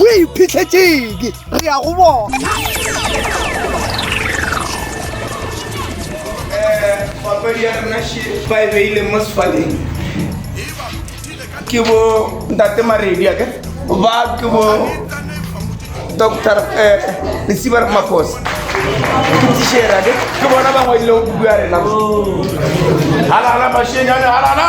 Re iphitlhetšeng, re ya go bona. Papadi ya rena še ba e beile mo sefaleng ke bo ntate maredi ake ba ke bo doctor eh, lesiba re makosa ke tishera ke bona ba ngwadilego buku ya rena halala mashenyane halala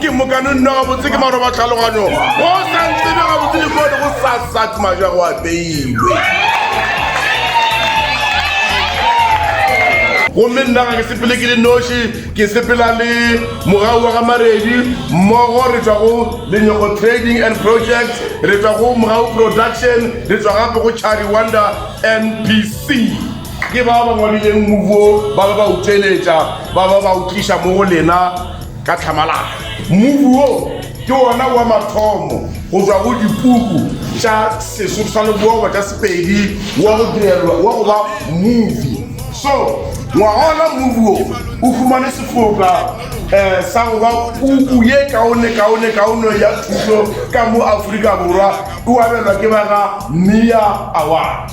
ke mokano nna gabotse ke maroba tlhaloganyo go sa ntsebe gabotse dikone go sa sat maja go apeilwe gomme nna ga ke sepele ke le noši ke sepela le mogau wa ga maredi mmogo re tswa go lenyoko trading and projects re tswa go mogau production re tswa gape go chari wonder npc ke ba ba ngwadileng movuo ba ba ba utseletša ba ba ba utliša mo go lena Ka tlhamalalo, mmupi wo ke wona wa mathomo go tswa go dipuku tša Sesotho sa Lebowa tša Sepedi wa go direlwa wa go ba mmupi. So, ngwaga ona mmupi wo o humane sefoka um sa go ba puku ye kaonekaonekaone ya thuto ka mo Afrika Borwa, o abelwa ke ba ga Mia Award.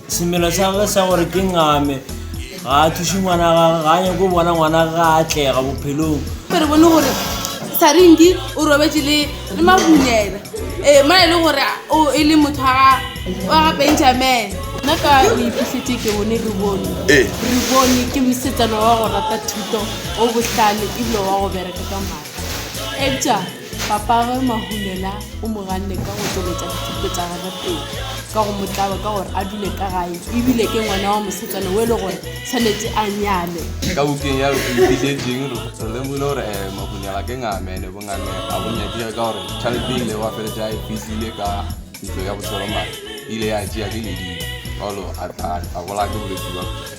Semelo sa gagwe sa gore ke ngame ga a thuše ngwana gagwe ga a nyako bona ngwana ga a atlega bophelong re bone gore saringi o robetse le le mabunyela ee ma e le gore o e le motho wa ga benjamin nna ka o iphitlhetse ke bone re bone re bone ke mosetsana wa go rata thuto o botlhale ebile wa go bereka ka maatla eja Papage Mahulela o mo ganne ka go tšweletša dithuto tša gagwe pele ka go mo tlaba ka gore a dule ka gae e bile ke ngwana wa mosetsana o e le gore tshwanetse a nyalwe. Ka bukeng ya Re Go Itišetseng re lemogile gore eh, Mahulela ke ngame ene bongame ga bo nyakege ka gore tšhalete e ilego a feletša a e fihlile ka ntlo ya boseromane e ile ya tšea ke ledimo, Paulo a tla a bolaya ke bolwetši bja.